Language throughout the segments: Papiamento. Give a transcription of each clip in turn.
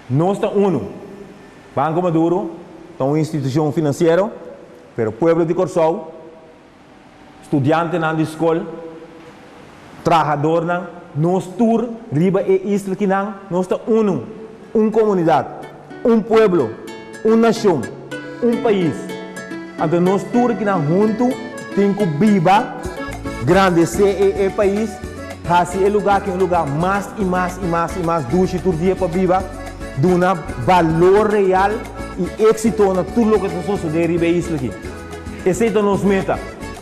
Nos ta unu. Banco Maduro ta un institucion financiero, pero pueblo di Corsou, studiantenan di scol, trahadornan, nos tur riba e isla kinan nos ta unu, un comunidad. Un pueblo, un nacion, un pais. Anto nos tur aki nan huntu tin cu biba, grandece e e pais, haci e lugar aki un lugar mas y mas y mas y mas dushi tur dia pa biba, duna balor real y exito na tur loke ta sosode riba e isla aki. Esey ta nos meta.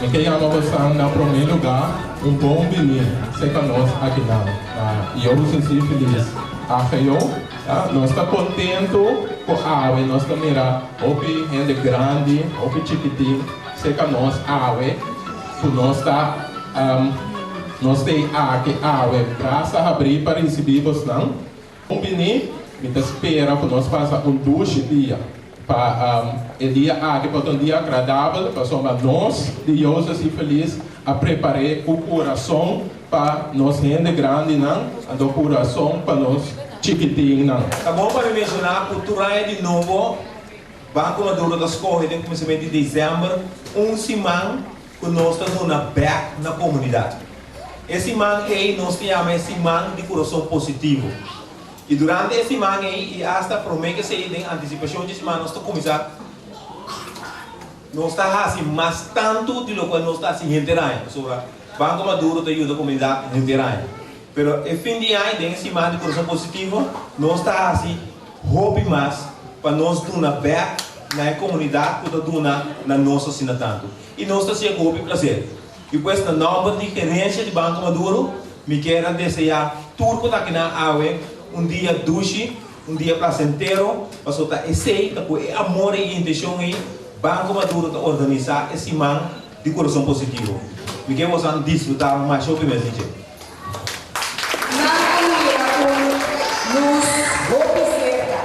Mi ke yama bosan na prome luga un bon di mi seca nos akinan na yo sesi filis agio nos ta contento cu awe nos ta mira hopi hende grandi hopi chikitin seca nos awe cu nos ta nos ta aki awe brasa habri pa ricibi bosnan. Hopi ni, mi ta spera ku nos pasa un dushi dia, pa e dia aki por ta un dia agradabel, pasobra nos di Yozas i Felis a prepar'é ku kurason pa nos hende grandinan, anto kurason pa nos chikitinnan. Ta bon pa mi menshoná ku tur aña di nobo, Banko Maduro ta skohe den kuminsamentu di desèmber un siman cu nos ta duna bek na comunidad. E siman ey nos ta yama e Siman di Curason Positivo. Y durante e siman ey y hasta prome kesey den anticipacion dje siman nos ta cuminsa nos ta haci mas tanto di locual nos ta haci henter aña. Pasobra Banco Maduro ta yuda comunidad henter aña. Pero e fin di aña den e siman di Corazon Positivo nos ta haci hopi mas pa nos duna bek na e comunidad cu ta duna na nos asina tanto. Y nos ta haci e cu hopi placer. Y pues na nomber di gerencia di Banco Maduro mi kier a desea tur cu ta aki nan awe un dia dushi, un dia placentero pasobra ta esey ta cu e amor y e intencion ey Banco Maduro ta organiza e siman di Corazon Positivo. Mi kier boso a disfruta masho primer di dje. Nan a mira un lus hopi serka.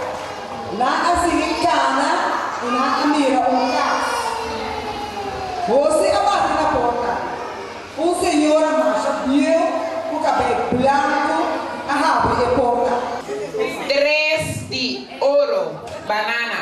Nan a sigui kana i nan a mira un kas. Jose a bati na porta. Un señora masha bieu ku kabé blanku a habri e porta. Tres di oro, banana,